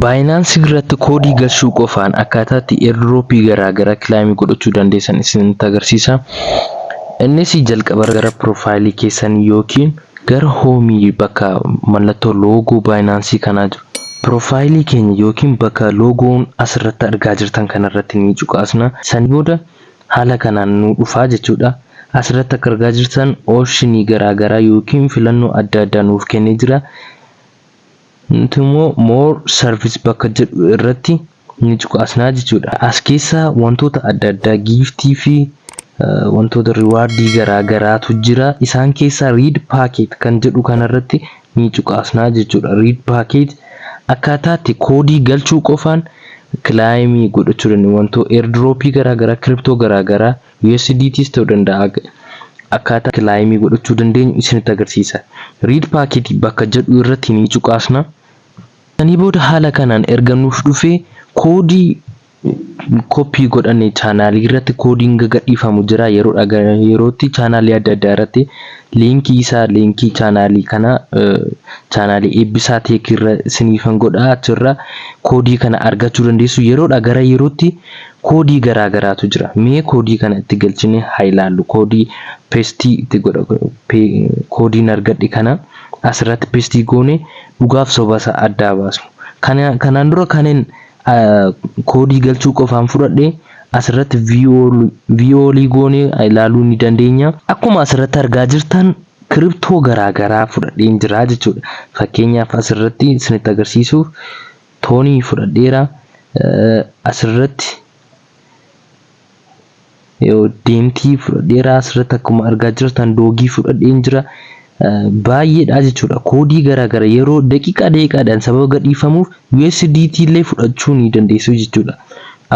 Binance irratti koodii galchuu qofaan akkaataa itti airdrop garaa garaa claim godhachuu dandeessan isinitti agarsiisa. Innis jalqaba gara profile keessan yookiin gara home bakka mallattoo logo Binance kanaa jiru. Profile keenya yookiin bakka logoon asirratti argaa jirtan kanarratti ni cuqaasna. Sanii booda haala kanaan nu dhufaa jechuudha. Asirratti akka argaa jirtan option garaa garaa yookiin filannoo adda addaa nuuf kennee jira. Nuti immoo More Service bakka jedhu irratti ni cuqaasnaa jechuudha. As keessaa wantoota adda addaa giiftii fi wantoota riwaardii garaa garaatu jira. Isaan keessaa Read Packet kan jedhu kanarratti ni cuqaasnaa jechuudha. Read Packet akkaataatti koodii galchuu qofaan kilaayimii godhachuu dandeenya. Wantoo airdropii garaa garaa, kiriptoo garaa garaa USDTs ta'u danda'a ag. Akkaataa kilaayimii godhachuu dandeenyu isinitti agarsiisa. Read Packet bakka jedhu irratti ni cuqaasna. Sanii booda haala kanaan erga nuuf dhufee koodii koppii godhanne chaanaalii irratti koodiin gagadhiifamu jira yeroodha gara yerootti chaanaalii adda addaa irratti liinkii isaa liinkii chaanaalii kana chaanaalii eebbisaa teekii irra siniifan godha achirra koodii kana argachuu dandeessu yeroodha gara yerootti Koodii garaa garaatu jira. Mee koodii kana itti galchinee haa ilaallu. Koodii pestii itti godha. Koodiin argadhe kana asirratti pestii goone dhugaaf soba isaa addaa baasnu. Kanaan dura kanin koodii galchuu qofaan fudhadhe asirratti viiyoolii goone ilaaluu ni dandeenya. Akkuma asirratti argaa jirtan kiriptoo garaa garaa fudhadheen jira jechuudha. Fakkeenyaaf asirratti isinitti agarsiisuuf Toonii fudhadheera asirratti deemtii fudhadheera asirratti akkuma argaa jirtan doogii fudhadheen jira baay'eedha jechuudha koodii garaagara yeroo daqiiqaa daqiiqaadhaan sababa gadhiifamuuf USDT illee fudhachuu ni dandeessu jechuudha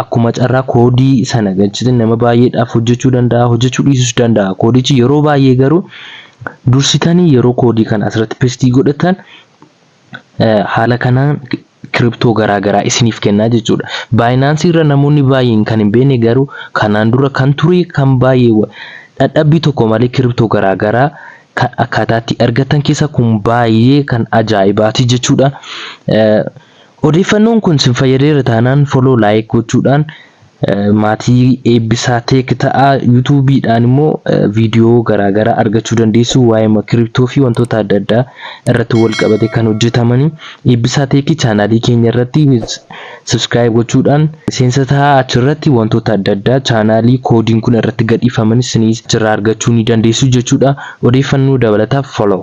akkuma carraa koodii sana galchite nama baay'eedhaaf hojjechuu danda'a hojjechuu dhiisus danda'a koodichi yeroo baay'ee garuu dursitanii yeroo koodii kana asirratti pestii godhatan Haala kanaan kiriptoo garaa garaa isiniif kennaa jechuudha. Baayinaansii irra namoonni baay'een kan hin beekne garuu kanaan dura kan ture kan baay'ee dhadhabbii tokko malee kiriptoo garaa garaa kan akkaataa itti argattan keessa kun baay'ee kan ajaa'ibaati jechuudha. Odeeffannoon kun sin fayyadeera taanaan follow like gochuudhaan Maatii Eebbisaa Tech ta'aa. YouTube dhaan immoo video garaa garaa argachuu dandeessu. Waa'eema crypto fi wantoota adda addaa irratti wal qabate kan hojjetamani. Eebbisaa Tech channel keenya irratti subscribe gochuudhaan miseensa ta'aa. Achirratti wantoota adda addaa channel koodiin kun irratti gadhiifamani isiniis achirraa argachuu ni dandeessu jechuudha. Odeeffannoo dabalataaf follow.